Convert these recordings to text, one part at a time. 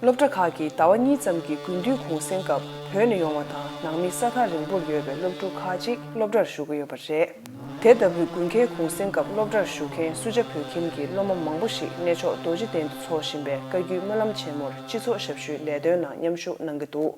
སློབ་གྲྭ་ཁག་གིས་ཟླ་བ་གཉིས་ཙམ་གྱི་དགུན་དུས་གུང་གསེང་སྐབས་བོད་ནས་ཡོང་བ་དང་ནང་མི་ས་ཐག་རིང་པོར་ཡོད་པའི་སློབ་ཕྲུག་ཁག་ཅིག་སློབ་གྲྭར་ཞུགས་ཀྱི་ཡོད་པ་རེད། དེ་ལྟ་བུའི་དགུན་ཁའི་གུང་གསེང་སྐབས་སློབ་གྲྭར་ཞུགས་མཁན་སུ་ཇཱ་བོད་ཁྱིམ་གྱི་སློབ་མ་མང་པོ་ཞིག་གནས་མཆོག་རྡོ་རྗེ་གདན་དུ་འཚོགས་བཞིན་པའི་བཀའ་བརྒྱུད་སྨོན་ལམ་ཆེན་མོར་སྤྱི་ཚོགས་ཞབས་ཞུའི་ལས་དོན་ནང་མཉམ་ཞུགས་གནང་གི་འདུག།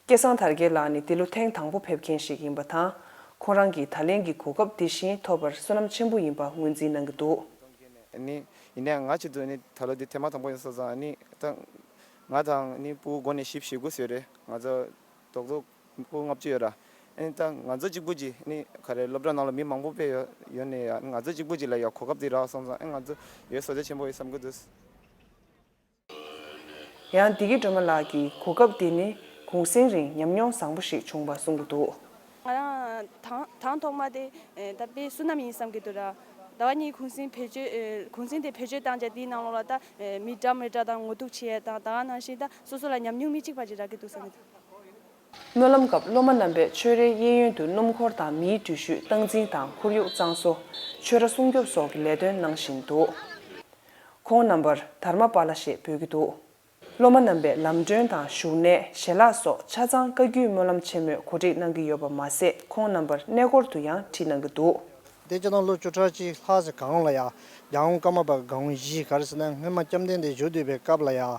སྐལ་བཟང་དར་རྒྱས་ལགས་ནི་འདི་ལོ་ཐེངས་དང་པོ་ཕེབས་མཁན་ཞིག་ཡིན་པ་དང། ཁོང་རང་གིས་ད་ལན་གྱི་གོ་སྐབས་འདི་བཞིན་ཐོབ་པར་བསོད་ནམས་ཆེན་པོ་ཡིན་པ་ངོས་འཛིན་གནང་གི་འདུག། ཡིན་ནའང་ང་ཆེད་དུ་ད་ལོ་འདི་ཐེངས་མ་དང་པོ་ཡིན་ས་ཙང་ང་དང་སྤུའུ་སྒོ་ནས་ཞིབ་བྱེད་དགོས་ཟེར་རེད་ང་ཚོ་རྡོག་རྡོག་པོ་ལྔ་བཅུ་ཡོད་ར་ད་ང་ཚོ་གཅིག་པོ་གྱིས་ག་རེ་སློབ་གྲྭ་ནང་ལ་མི་མང་པོ་ཕེབས་ཡོད་ནས་ང་ཚོ་གཅིག་པོ་གྱིས་ལ་ཡ་གོ་སྐབས་འདི་རག་སོང་ཙང་ང་ཚོ་ཡོད་བཟོ་རྒྱ་ཆེན་པོ་ཡོད་བསམ་གྱི་འདུག། ཡང་སྡེ་དགེ་སྒྲོལ་མ་ལགས་ཀྱིས་གོ་སྐབས་དེ་ནི་གུང་གསེང་རིང་ཉམས་མྱོང་བཟང་པོ་ཞིག་བྱུང་བ་གསུང་གི་འདུག། ང་རང་དང་ཐོག་མ་དེ་ད་དཔེ་བསུ་ནམ་ཡིན་བསམ་གི་འདུག་ཟླ་བ་གཉིས་གུང་གསེང་བེད་སྤྱོད་གུང་གསེང་དེ་བེད་སྤྱོད་བཏང་རྗེས་དེའི་ནང་ལོགས་ལ་ད་མི་དྲག་མི་དྲག་དང་ངོ་ཐུག་ཆེ་ཡས་དང་ད་ང་ནང་བཞིན་ད་སོ་སོ་ལ་ཉམས་མྱོང་མི་གཅིག་པ་ཅིག་རག་གི་འདུག་བསམ་གི་འདུག། སྨོན་ལམ་སྐབས་སློབ་མ་རྣམ་པས་ཆོས་རའི་གཡས་གཡོན་དུ་སྣུམ་འཁོར་དང་མིའི་འགྲུལ་བཞུད་སྟངས་འཛིན་དང་ཁོར་ཡུག་གཙང་བཟོ། ཆོས་ར་སྲུང་སྐྱོབ་སོགས་ཀྱི་ལས་དོན་གནང་བཞིན་འདུག་ཁོང་རྣམ་པར་དར་མ་པཱ་ལ་ཞེས་འབོད་ཀྱི་འདུག་སློབ་མ་རྣམ་པས་ལམ་སྒྲོན་དང་བཞུགས་གནས་ཞལ་ལག་སོགས་ཆ་ཚང་བཀའ་བརྒྱུད་སྨོན་ལམ་ཆེན་མོས་གོ་སྒྲིག་གནང་གི་ཡོད་པ་མ་ཟད་ཁོང་རྣམ་པར་གནས་སྐོར་དུ་ཡང་ཁྲིད་གནང་གི་འདུག། འདས་ཕྱི་ནང་ལོ་བཅུ་ཕྲག་གཅིག་ལྷག་ཟེར་གང་ལ་ཡང་རྒྱ་འུ་ཀ་མ་པ་གངས་བཞི་གར་ཟེར་ན་སྔོན་མ་སྐྱབས་ལྡན་འདས་མཆོག་འདུས་པའི་སྐབས་ལ་ཡང་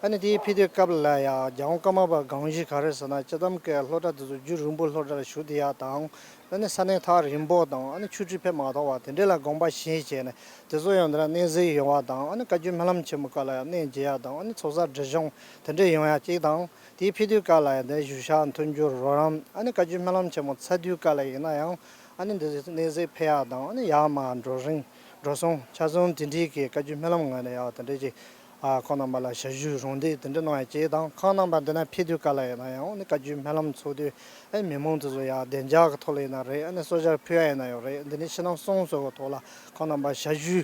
ཨ་ནི་དེའི་ཕི་དོའི་སྐབས་ལ་ཡང་རྒྱལ་འོང་ཀ་མ་པ་གངས་བཞི་ག་རེ་ཟེར་ན་སྤྱི་དམ་ཀའི་ལྷོ་བྲག་དེ་ཚོ་རྒྱུད་རིང་པོ་ལྷོ་བྲག་ལ་བཞུགས་དེ་ཡག་དང་ཨ་ནི་ས་གནས་ཐག་རིང་པོ་དང་ཨ་ནི་ཆུ་ཁྲི་ཕེབས་མ་ཐོག་བ་དེ་འདྲས་ལ་དགོངས་པ་བཞིན་བྱས་ནས་དེ་ཚོ་ཡང་དེ་རང་གནས་གཟིགས་ཡོང་བ་དང་ཨ་ནི་བཀའ་བརྒྱུད་སྨོན་ལམ་ཆེན་མོ་ཀ་ལ་ཡང་གནས་མཇལ་ཡག་དང་ཨ་ནི་ཚོགས་བསགས་འབྲི་གཞུང་དེ་འདྲས་ཡོང་ཡག་ཅིག་དང་དེའི་ཕི་དོའི་སྐབས་ལ་ཡང་དེ་བཞུགས་ཤག་འཐོན་རྒྱུར་རོགས་རམ་ཨ་ནི་བཀའ་བརྒྱུད་སྨོན་ལམ་ཆེན་མོ་ཚ་དུས་ཀ་ལ་ཡིན་ན་ཡང་ཨ་ནི་འདི་ཚོ་གནས་གཟིགས་ཕེབས་ཡག་དང་ཨ་ནི་ཡག་མ་འགྲོ་རིང་འགྲོ་སོང་ཆ་སོང་དེ་འདྲས་ཀྱི་བཀའ་བརྒྱུད་སྨོན་ལམ་ངོས་ནས་ཡག་དེ་འདྲས་ཀྱི་ཁོང་རྣམ་པ་ལ་ཞབས་ཞུ་རུང་དེ་དེ་འདྲ་གནང་ཡག་ཅེས་དང་ཁང་རྣམ་པ་འདི་ན་ཕེབས་དུས་ག་ལ་ཡིན་ན་ཡང་བཀའ་བརྒྱུད་སྨོན་ལམ་འཚོགས་དུས་ཨེ་མི་མང་དེ་ཚོ་ཡང་བདེ་འཇགས་ཀྱི་ཐོག་ལ་ཡིན་ན་རེད་ཨེ་ནས་གསོལ་ཇར་ཕུལ་ཡག་ཡིན་ན་ཡང་རེད་འདི་ནས་ཕྱི་ནང་གསང་གསོལ་གྱི་ཐོག་ལ་ཁང་རྣམ་པ་ཞབས་ཞུ་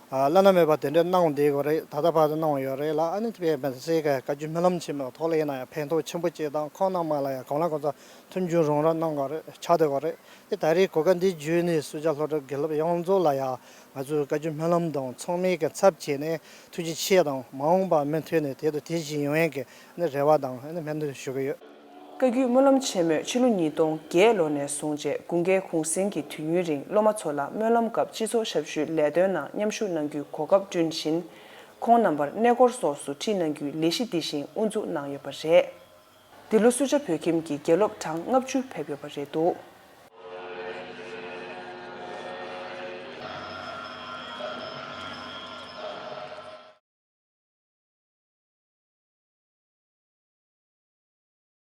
བླ་ན་མེད་པ་དེ་འདྲ་གནང་བསྡད་གི་རེད་ད་ལྟ་བར་དུ་གནང་ཡོད་རེད་ལ་ཨེ་ནས་དཔལ་སྦན་སེ་ཀ་བཀའ་བརྒྱུད་སྨོན་ལམ་ཆེན་མོའི་ཐོག་ལ་ཡིན་ན་ཡང་ཕན་ཐོགས་ཆེན་པོ་ཅེས་དང་ཁང་རྣམ་པ་ལ་ཡང་གང་ལ་གང་འཚམ་མཐུན་འགྱུར་རུང་ར་གནང་གི་རེད་ཆགས་སྡོད་གི་རེད་དེ་ད་རེས་གོ་སྐབས་འདི་བརྒྱུད་ནས་གསོལ་ཇར་ལྷོ་བྲག་དགེ་སློབ་ཡོངས་རྫོགས་ལ་ཡང་ང་ཚོས་བཀའ་བརྒྱུད་སྨོན་ལམ་དང་ཚོགས་མི་གི་ཚབ་བྱས་ནས་ཐུགས་རྗེ་ཆེ་དང་མ་འོངས་པར་མུ་མཐུད་ནས་དེ་དང་དེ་བཞིན་ཡོང་ཡན་གི་རེ་བ་དང་སྨོན་འདུན་ཞུ་གི་ཡོད། བཀའ་བརྒྱུད་སྨོན་ལམ་ཆེན་མོས་ཕྱི་ལོ་ཉིས་སྟོང་བརྒྱད་ལོ་ནས་བཟུང་རྗེ་དགུན་སྐལ་གུང་གསེང་གི་དུས་ཡུན་རིང་སློབ་མ་ཚོ་ལ་སྨོན་ལམ་སྐབས་སྤྱི་ཚོགས་ཞབས་ཞུའི་ལས་དོན་ནང་མཉམ་ཞུགས་གནང་རྒྱུའི་གོ་སྐབས་བསྐྲུན་བཞིན། ཁོང་རྣམ་པར་གནས་སྐོར་སོགས་སུ་ཁྲིད་གནང་རྒྱུའི་ལས་གཞི་འདི་བཞིན་དབུ་འཛུགས་གནང་ཡོད་པ་རེད། འདི་ལོ་སུ་ཇཱ་བོད་ཁྱིམ་གྱི་དགེ་སློབ་གྲངས་ལྔ་བཅུ་ཕེབས་ཡོད་པ་རེད་འདུག།